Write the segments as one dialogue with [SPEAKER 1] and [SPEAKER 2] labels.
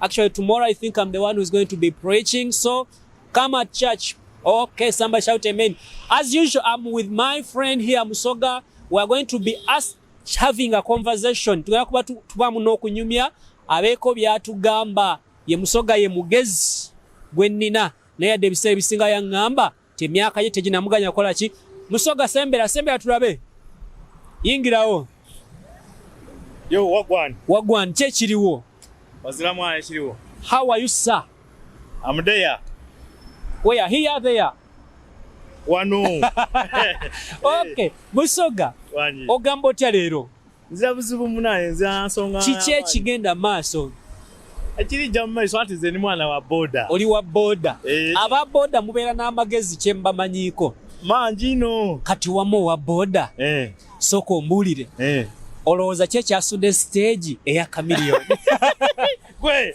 [SPEAKER 1] Actually, tomorrow I think I'm the one who's going to be preaching. So come at church. Okay, somebody shout amen. As usual, I'm with my friend here, Musoga. We are going to be us having a conversation. Tugenda kuba tubamu n'okunyumya abeeko by'atugamba. Ye Musoga ye mugezi gwe nnina naye yadde ebiseera ebisinga yaŋŋamba Ti emyaka ye teginamuganya kola ki? Musoga sembera sembera tulabe. Yingirawo.
[SPEAKER 2] Yo wagwan. Wagwan kye kiriwo.
[SPEAKER 1] Wazira mwana
[SPEAKER 2] kiriwo. How are you sir?
[SPEAKER 1] I'm there.
[SPEAKER 2] Where
[SPEAKER 1] are here there? Wano. okay, Musoga. Wanyi. Ogambo tya lero. nzira buzibu
[SPEAKER 2] munaye nzira nsonga kiki ekigenda
[SPEAKER 1] maaso ekirijja
[SPEAKER 2] mu maiso ati nze ni mwana wa boda oli wa boda eh.
[SPEAKER 1] aba boda mubeera n'amagezi kye mbamanyiiko mangi no
[SPEAKER 2] kati wamu owa
[SPEAKER 1] boda eh. sooka ombuulire eh. olowooza ki ekyasudde siteegi eya kamiliyoni gwe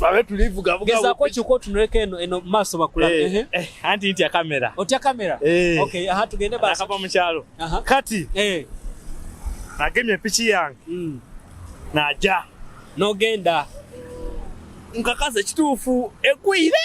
[SPEAKER 2] babe tulivugavuga gezaako kiko otunuleko
[SPEAKER 1] eno eno mu maaso bakulabe eh, eh, eh, anti ntya
[SPEAKER 2] kamera otya kamera
[SPEAKER 1] okay aha tugende basi akava mu kyalo
[SPEAKER 2] kati nagemye piki yange mm. naja nogenda nkakaza ekituufu egwire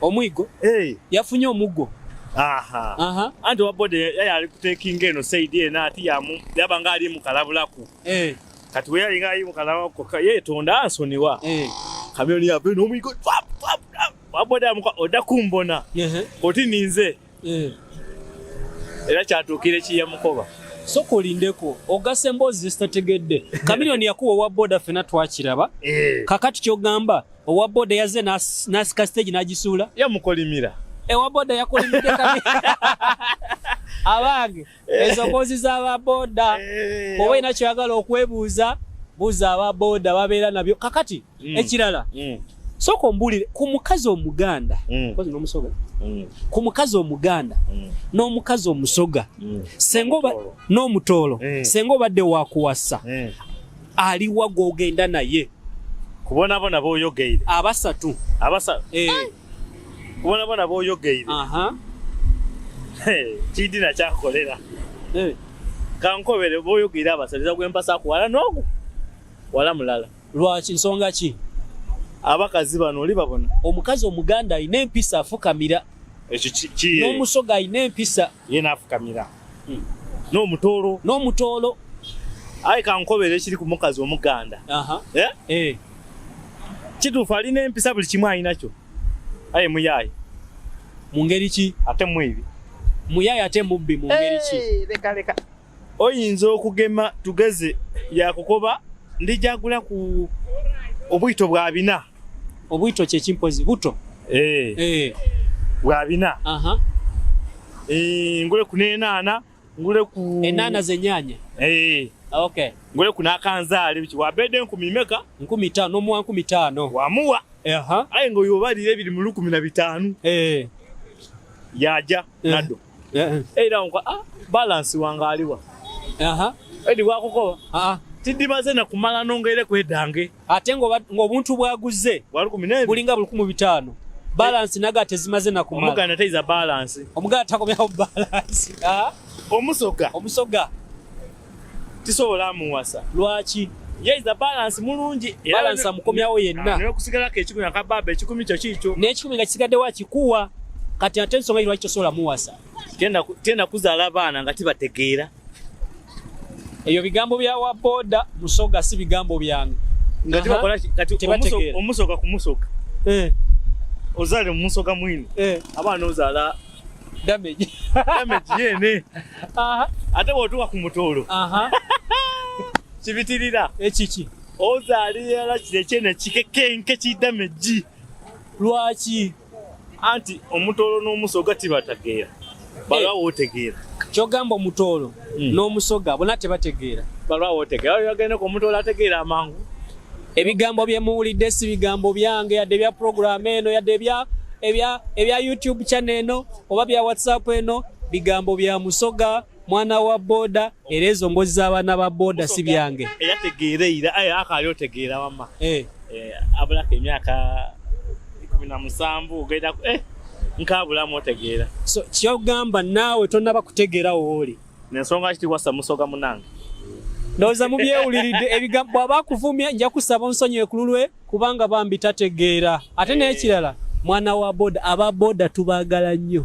[SPEAKER 2] Omwigo? Eh. Yafunye omuggo. Aha. Aha. Anti wa body yali ali kutekinga eno said ena ati yamu yaba nga ali mukalabulaku. Eh. Kati we yali nga ali mukalabulaku ka ye tonda ansoniwa. Eh. Kamyoni ya bino omwigo. Wa body amuka odakumbona. Eh. Koti ninze. eh. era kyatuukira ekiyamukoba soka olindeko
[SPEAKER 1] ogasa emboozi zezitategedde kamiliyoni yakuwa owa boda fena twakiraba eh. kakati kyogamba owa boda yaze nasika stage nagisuula yamukolimira
[SPEAKER 2] ewa boda
[SPEAKER 1] yakolimidde abange Eh. ezo mbozi zaba boda eh. oba ina kyagala okwebuuza buza aba boda babeera nabyo kakati mm. ekirala mm. soka ombulire ku mukazi omuganda mm. nomusoga mm. ku mukazi omuganda mm. n'omukazi omusoga mm. sengoba n'omutoolo mm. senga obadde wakuwasa mm. aliwa gwogenda naye kubonabona
[SPEAKER 2] boyogeire abasatu
[SPEAKER 1] abasatu eh.
[SPEAKER 2] kubona bona boyogeire kidina kyakolera eh. kankobere boyogeire abasaliza gwempasa kuwala nogu wala mulala lwaki nsonga
[SPEAKER 1] ki abakazi
[SPEAKER 2] bano oli babona omukazi omuganda
[SPEAKER 1] alina empisa afukamira ekyo n'omusoga alina empisa yena afukamira
[SPEAKER 2] hmm. n'omutoolo n'omutoolo aye kankobera ekiri ku mukazi omuganda eh? Eh. kituufu alina empisa buli kimu alinakyo aye muyaaye mu
[SPEAKER 1] ngeri ki ate mwibi
[SPEAKER 2] muyaaye ate
[SPEAKER 1] mubbi mu ngeri ki eh,
[SPEAKER 2] oyinza okugema tugeze yakukoba ndijagula ku obwito bwa bina Obuito kye
[SPEAKER 1] kimpozi buto. Eh. Eh. Bwa
[SPEAKER 2] bina. Aha. Eh, ngule kunena ana, ngule ku Enana zenyanya.
[SPEAKER 1] Eh. Okay. Ngule kuna
[SPEAKER 2] kanzali bichi wabede nkumi meka? Nkumi tano mwa
[SPEAKER 1] nkumi tano. Wamuwa. Aha.
[SPEAKER 2] Aye ngo yobali ebiri mu 15. Eh. Yaja eh. nado. Eh. Eh, ira ngo ah balance wanga aliwa. Aha. Edi wakuko. Ah. Tidimaze na kumala nonga ile kwedange. ate
[SPEAKER 1] ng'obuntu bwaguze bulinga bulikumu bitaano balansi naga tezimaze nakumala
[SPEAKER 2] omuganda takomyawo
[SPEAKER 1] balansi ah? omusoga omusoga tisobola amuwasa lwaki
[SPEAKER 2] yeiza balansi mulungi balansi amukomyawo yenna
[SPEAKER 1] nokusigalako ekikumi
[SPEAKER 2] akababa
[SPEAKER 1] ekikumi
[SPEAKER 2] kyo
[SPEAKER 1] kiikyo n'ekikumi
[SPEAKER 2] nga kisigaddewo akikuwa kati
[SPEAKER 1] ate ensonga yi lwaki tosobola muwasa tenda
[SPEAKER 2] kuzaala abaana nga tibategeera
[SPEAKER 1] eyo bigambo bya wa boda musoga si bigambo byange ngati bakola
[SPEAKER 2] kati omusoga kumusoga eh ozale musoga mwini eh abana ozala damage
[SPEAKER 1] damage yene
[SPEAKER 2] aha ate wotuka ku mutolo aha kibitirira ekiki
[SPEAKER 1] ozali yala
[SPEAKER 2] kire kyene kikekenke ki damage lwaki
[SPEAKER 1] anti
[SPEAKER 2] omutoolo n'omusoga tibatageera balwawo eh. otegeera kyogamba omutoolo
[SPEAKER 1] hmm. n'omusoga bona tebategeera balwawo otegeera
[SPEAKER 2] yagenda ku omutoolo ategeera amangu ebigambo
[SPEAKER 1] bye muwulidde si bigambo byange yadde ebya puroguramu eno yadde ebya ebya ebya youtube channel eno oba bya whatsapp eno bigambo bya musoga mwana wa boda era ezo mbozi z'abaana ba boda si byange era tegeera era aye
[SPEAKER 2] akaali otegeera wamma eh. eh, abulako emyaka kumi na musanvu ogenda eh, nkaabulamu otegeera so kyogamba
[SPEAKER 1] naawe tonaba kutegeera wooli nensonga kiti wasa
[SPEAKER 2] musoga munange ndowooza
[SPEAKER 1] mubyewuliridde ebigambo bwaba akuvumya nja kusaba onsonyiwe ku lulwe kubanga bambi tategeera ate n'ekirala mwana wa boda aba boda tubagala nnyo